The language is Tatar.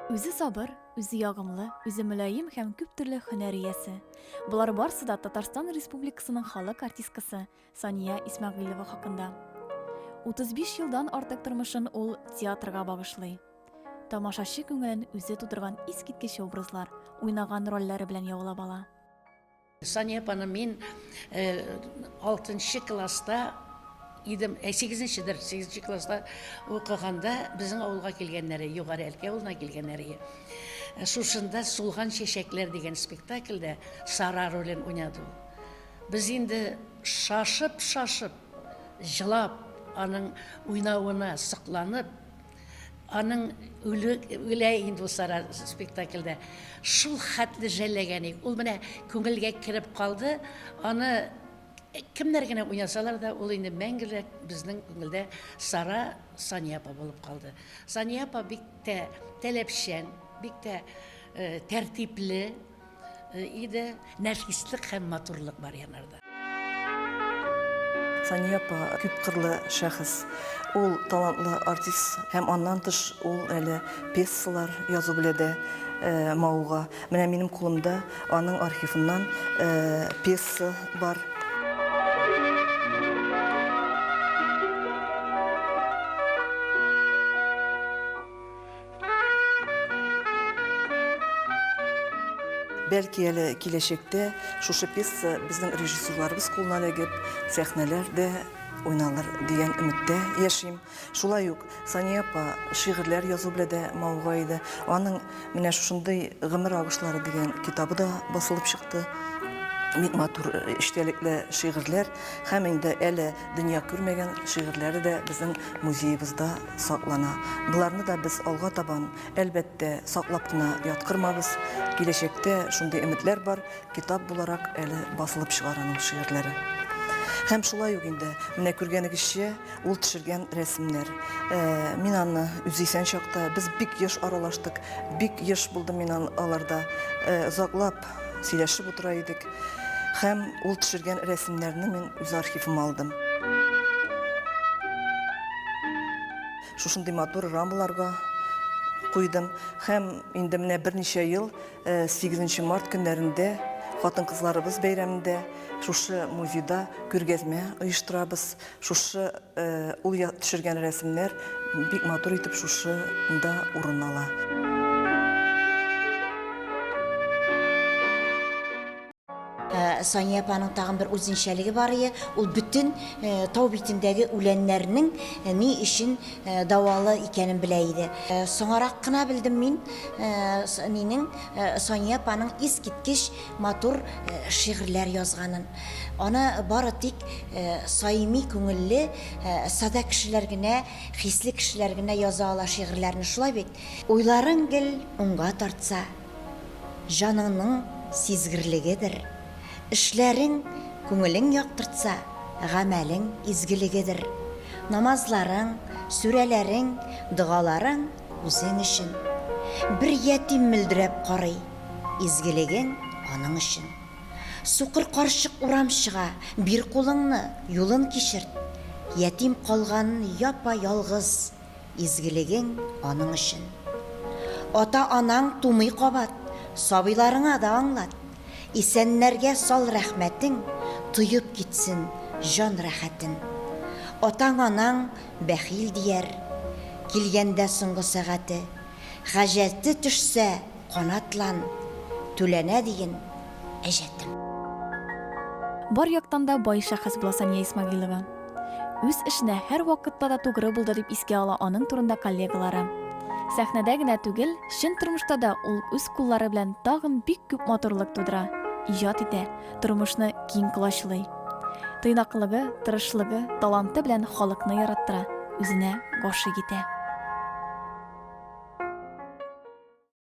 Үзе сабыр, үзе ягымлы, үзе мөлаем һәм күп төрле һөнәр иясе. Болар барсы да Татарстан Республикасының халык артисткасы Сания Исмәгыйлова хакында. 35 елдан артык тормышын ул театрга багышлый. Тамашачы күңелен үзе тудырган искиткеч образлар, уйнаган рольләре белән яулап ала. Сания апаны мин алтынчы класста идем, ә сигезенчедер, сигезенче класста укыганда безнең авылга килгәннәре, Югары Әлкә авылына килгәннәре. Шушында Сулган чәчәкләр дигән спектакльдә Сара ролен уйнады ул. Без инде шашып-шашып, җылап, аның уйнавына сокланып, Аның үле үлә инде ул сара спектакльдә. Шул хәтле жәлләгән ик. Ул менә күңелгә кереп калды. Аны кемнәр генә уйнасалар да, ул инде мәңгелек безнең күңелдә Сара Сания апа булып калды. Сания апа бик тә таләпчән, бик тә тәртипле. иде. Нәфислек һәм матурлык бар янарда. Сания апа күпкырлы шәхес. Ул талантлы артист һәм аннан тыш ул әле пьесалар язу белән дә э, мавыга. Менә минем кулымда аның архивыннан э, пьеса бар. Бәлки әле киләчәктә шушы пьеса безнең режиссерларыбыз кулына эләгеп, сәхнәләрдә уйналыр дигән өметтә яшим. Шулай ук Сания апа шигырьләр язу белән дә мавыга иде. Аның менә шушындый гомер агышлары дигән китабы да басылып чыкты. Бик матур эчтәлекле шигырьләр һәм инде әле дөнья күрмәгән шигырьләре дә безнең музеебызда саклана. Боларны да без алга табан, әлбәттә, саклап кына яткырмабыз. Киләчәктә шундый өметләр бар, китап буларак әле басылып чыгар аның шигырьләре. Һәм шулай ук инде, менә күргәнегезчә, ул төшергән рәсемнәр. Э, мин аны үз исән чакта, без бик еш аралаштык, бик еш булдым мин аларда. Э, озаклап сөйләшеп утыра идек. Һәм ул төшергән рәсемнәрне мин үз архивыма алдым. Шушындый матур рамаларга куйдым. Һәм инде менә берничә ел 8 э, март көннәрендә хатын-кызларыбыз бәйрәмендә шушы музейда күргәзмә оештырабыз. Шушы ул төшергән рәсемнәр бик матур итеп шушы да урын ала. Сания апаның тагын бер үзенчәлеге бар ие, ул бөтен э, тау битендәге үләннәрнең э, ни өчен э, дәвалы икәнен белә иде. Соңарак кына белдем мин, минең Сания апаның искиткеч матур шигырьләр язганын, аны бары тик саими күңелле, сада кешеләр генә, хисле кешеләр генә яза ала шигырьләрне, шулай бит? Уйларың гел уңга тартса, җаныңның сизгерлегедер, эшләрең күңелең яктыртса, гамәлең изгелегедер, намазларың, сүрәләрең, догаларың үзең өчен. Бер ятим мөлдерәп карый. Изгелегең аның өчен. Сукыр карчык урам чыга, Бир кулыңны, юлын кичерт. Ятим калган япа-ялгыз, Изгелегең аның өчен. Ата-анаң тумый кабат, Сабыйларыңа да аңлат. Исәннәргә сал рәхмәтең, Тоеп китсен җан рәхәтен. Атаң-анаң бәхил дияр, Килгәндә соңгы сәгате. Хаҗәте төшсә. Канатлан, түләнә диген, әҗәтем. Бар яктан да бай шәхес була Сания Исмәгыйлова. Үз эшенә һәрвакытта да тугры булды дип искә ала аның турында коллегалары. Сәхнәдә генә түгел, чын тормышта да ул үз куллары белән тагын бик күп матурлык тудыра, иҗат итә, тормышны киң колачлый. Тыйнаклыгы, тырышлыгы, таланты белән халыкны яраттыра, үзенә гашыйк итә.